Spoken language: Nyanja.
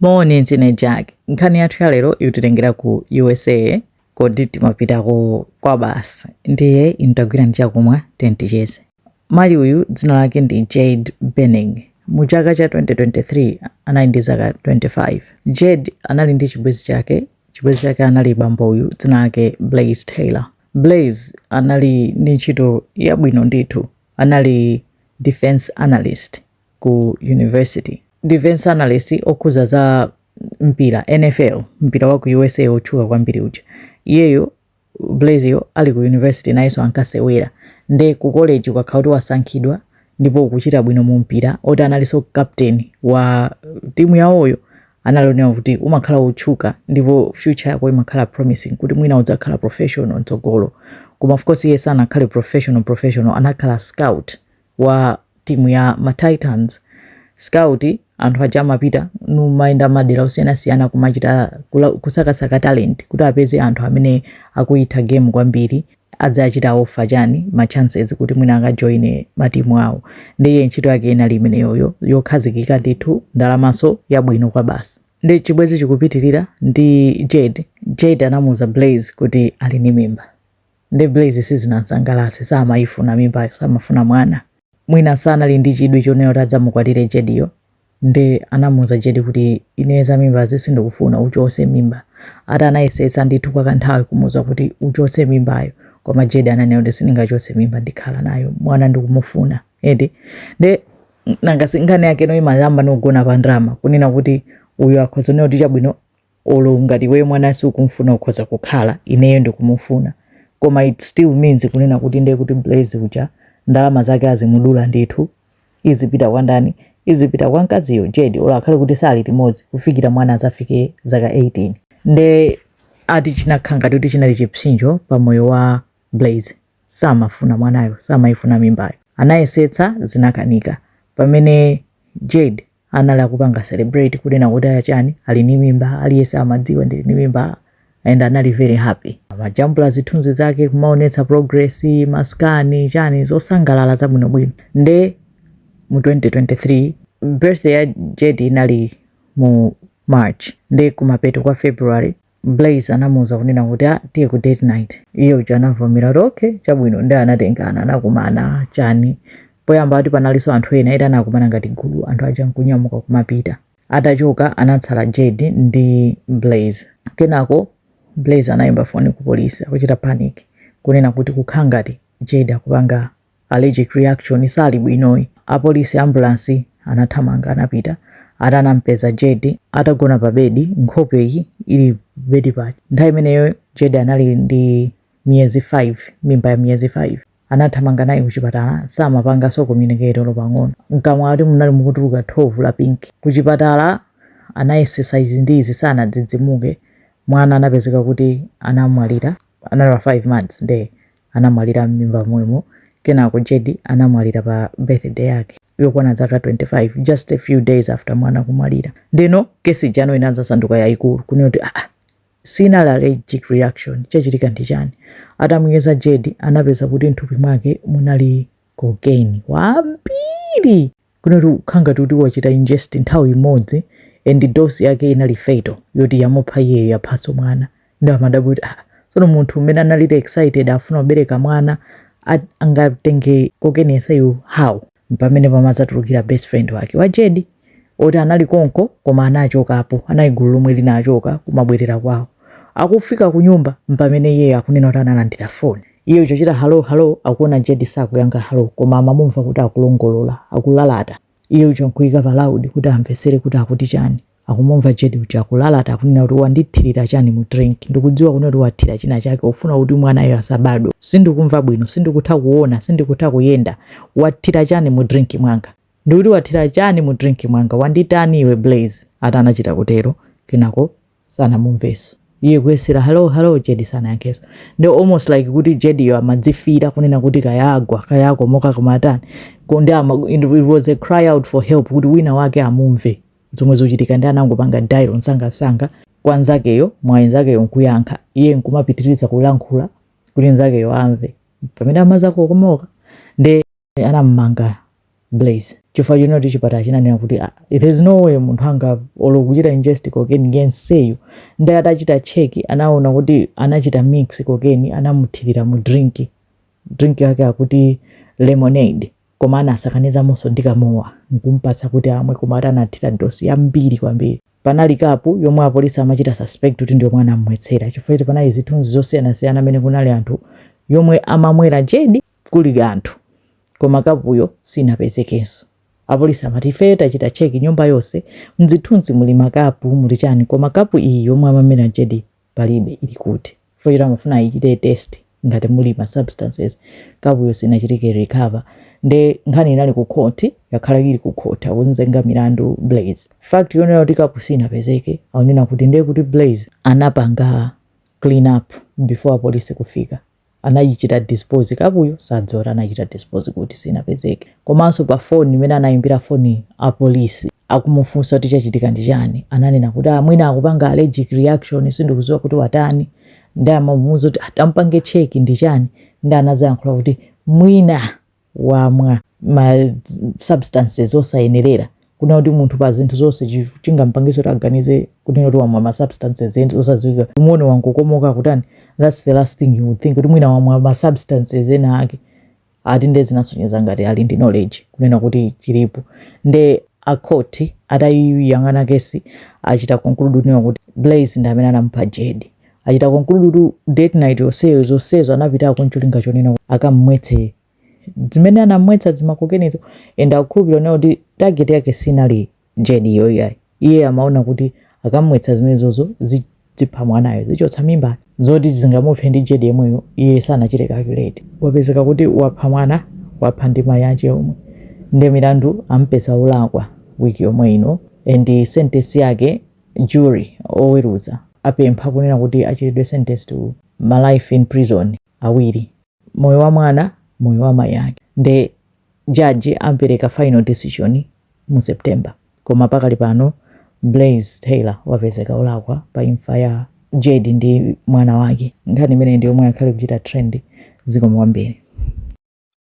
Moni ndine Jack. Nkhani yathu ya lero ikutitengera ku USA kodi timapitako kwabasi ndiye inu tagwirani chakumwa tiyeni ticheze. Mayi uyu dzina lake ndi Jade Benning. Mu chaka cha 2023 anali ndi zaka 25. Jade anali ndi chibwenzi chake. Chibwenzi chake anali bambo uyu dzina lake Blaise Taylor. Blaise anali ndi ntchito yabwino ndithu, anali defense analyst ku university. Defense analyst okhuza za mpira NFL mpira wa ku USA otchuka kwambiri uja. Iyeyo Blaise yo ali ku university nayenso ankasewera. Nde ku college ukakhala kuti wasankhidwa ndipo ukuchita bwino mu mpira oti analinso captain wa timu yawoyo ndi zonena kuti umakhala wotchuka ndipo future yako imakhala promising kuti mwina udzakhala professional mtsogolo. Koma of course iye sanakhale professional professional anakhala scout. wa timu ya ma Titans scout anthu aja amapita nkumayenda madera osiyanasiyana kumachita kula- kusakasaka talent kuti apeze anthu amene akuyitha game kwambiri adzachita offer chani ma chances kuti mwina akajoine matimu awo ndiye ntchito yake inali imeneyoyo yokhazikika ndithu ndalamaso yabwino kwa basi ndi chibwezi chikupitirira ndi Jade Jade anamuuza Blaise kuti ali ndi mimba nde Blaise sizinamsangalase samayifuna mimbayo samafuna mwana mwina sanali ndi chidwi chonena kuti adzamukwatire Jade yo nde anamuuza Jade kuti ine za mimbazi sindikufuna uchose mimba ati anayesetsa ndithu kwa kanthawi kumuuza kuti uchose mimbayo koma Jade ananena kuti sindingachose mimba ndikhala nayo mwana ndikumufuna edi nde nangosi nkhani yake inu imayambanso kugona pa ndalama kunena kuti uyu akhoza kunena kuti chabwino olo ngati iweyo mwana siukumfuna ukhoza kukhala ineyo ndikumufuna koma it still means kunena kuti ndiye kuti Blaise uja ndalama zake azimudula ndithu izipita kwa ndani izipita kwa mkaziyo Jade olo akhale kuti sali limodzi kufikira mwana azafike zaka 18 nde ati chinakhala ngati kuti chinali chipsinjo pa moyo wa Blaise samafuna mwanayo samayifuna mimbayo anayesetsa zinakanika pamene Jade anali akupanga celebrate kunena kuti aya chani ali ni mimba aliyese amadziwa ndili ni mimba and anali very happy amajambula zithunzi zake kumaonetsa progress ma scan chani zosangalala zabwinobwino nde mu 2023 birthday ya Jade inali mu March nde kumapeto kwa February Blaise anamuuza kunena kuti ah tiye ku date night iye uja anavomera kuti okay chabwino ndi anatengana anakumana chani poyamba ati panalinso anthu ena ena anakumana ngati gulu anthu aja nkunyamuka kumapita atachoka anatsala Jade ndi Blaise kenako Blaise anayimba foni ku polisi akuchita panic kunena kuti kukhala ngati Jade akupanga Allergic reaction sali bwinoyi. Apolisi ambulance anathamanga anapita atanampeza Jade atagona pa bedi nkhope iyi ili bedi paja. Nthawi imeneyo Jade anali ndi miyezi 5 mimba ya miyezi 5. Anathamanga naye kuchipatala samapanganso communicate olo pang'ono. Mkamwa ati munali mukutuluka thovu la pink. Kuchipatala anayesesa izi ndi izi sanadzidzimuke. Mwana anapezeka kuti anamwalira anali wa 5 months nde anamwalira mmimba momwemo kenako Jade anamwalira pa birthday yake yokwana zaka 25 just a few days after mwana kumwalira ndeno case ija no inadzasanduka yayikulu kunena kuti aa sinali allergic reaction chachitika ndi chani atamuyeza Jade anapeza kuti mthupi mwake munali cocaine wambiri kunena kuti kukhala ngati kuti wachita ingest nthawi imodzi and dose yake inali fatal yoti yamupha iyeyo yaphanso mwana nde amadabwa kuti aah tsono munthu amene anali too excited afuna kubereka mwana ati angatenge cocaine yenseyu how? Mpamene pamadzatulukira best friend wake wa Jade oti anali konko koma anachokapo, anali gulu lomwe linachoka kumabwerera kwawo. Akufika kunyumba mpamene iyeyo akunena kuti analandira phone. Iye uja kuchita hello hello akuona Jade sakuyankha hello koma amamumva kuti akulongolola, akulalata. Iye uja nkuika pa loud kuti amvetsere kuti akuti chani. Akumumva Jade uja akulalata akunena kuti wandithirira chani mu drink? Ndikudziwa kunena kuti wathira china chake ufuna kuti mwanayo asabadwe. Sindikumva bwino, sindikutha kuona, sindikutha kuyenda. Wathira chani mu drink mwanga? Ndikuti wathira chani mu drink mwanga? Wanditani iwe Blaze? Ati anachita kutero. Kenako sanamumveso iye kuyesera hello hello Jade sanayankheso nde almost like kuti Jade yo amadziwira kunena kuti kaya agwa kaya akomoka kaya atani Ko- ndi ama, it was a cry out for help kuti wina wake amumve zomwe zochitika nde anangopanga dial msangamsanga kwa nzakeyo mwayi nzakeyo nkuyankha iye nkumapitiriza kulankhula kuti nzakeyo amve pamene amadzakomoka nde anamumanga Blaze chifukwa chonena kuti chipatala chinanena kuti ah, there's no way munthu angalole kuchita ingest cocaine yenseyo nde atachita check anaona kuti anachita mix cocaine anamuthirira mu drink drink yake akuti lemonade koma anasakanizamonso ndi kamowa nkumpatsa kuti amwe koma ati anathira dose yambiri kwambiri panali kapu yomwe apolisi amachita suspect kuti ndiyomwe anamwetsera chifukwa choti panali zithunzi zosiyanasiyana mmene kunali anthu yomwe amamwera Jade kuli anthu koma kapuyo sinapezekenso. Apolisi amati, Ifeyo tachita check nyumba yonse, m'zithunzi muli makapu, muli chani koma kapu iyi yomwe amamwera Jade palibe, ili kuti? Chifukwa choti amafuna ayichite test ngati muli ma substances. Kapuyo sinachitike recover nde nkhani inali ku court, yakhala ili ku court akunzenga milandu Blaze. Fact yonena kuti kapu sinapezeke akunena kuti ndekuti Blaze anapanga clean up before apolisi kufika. anayichita dispose kapuyo sadziwa uko anachita dispose kuti sinapezeke komanso pa phone imene anayimbira phone apolisi akumufunsa kuti chachitika ndi chani ananena kuti mwina akupanga allergic reaction sindikuziwa kuti watani nde amamuuza kuti atampange check ndi chani nde anazayankhula kuti mwina wamwa ma substances osayenerera kunena kuti munthu pa zinthu zonse chi- chingampangiso kuti aganize kunena kuti wamwa ma substances ena osadziwika umuone wangokomoka kutani that's the last thing you would think kuti mwina wamwa ma substances ena ake ati nde zinasonyeza ngati ali ndi knowledge kunena kuti chilipo nde akhoti atayiyang'ana kesi achita conclude kunena kuti blaze ndi amene anamupha jade Achita conclude kuti date night yonseyo zonsezo anapitako ncholinga chonena kuti akam'mwetse zimene anam'mwetsa zimakokenizo and akukhulupirira kunena kuti target yake sinali Jade yo iyayi. Iye amaona kuti akam'mwetsa zimenezozo zidzipha mwanayo, zichotsa mimbayo. Zoti zingamuphe ndi Jade yemweyo iye sanachite calculate. Wapezeka kuti wapha mwana, wapha ndi mayi ache omwe. Nde milandu amupeza wolakwa week yomwe ino and sentence yake Jury, oweruza, apempha, kunena kuti achitidwe sentenced to ma life in prison awiri, moyo wa mwana, moyo wa mayi ake. Nde judge apereka final decision mu September. Koma pakali pano Blaze Taylor wapezeka olakwa pa imfa ya Jade ndi mwana wake. Nkhani imeneyi ndi yomwe yakhala ikuchita trend. Zikomo kwambiri.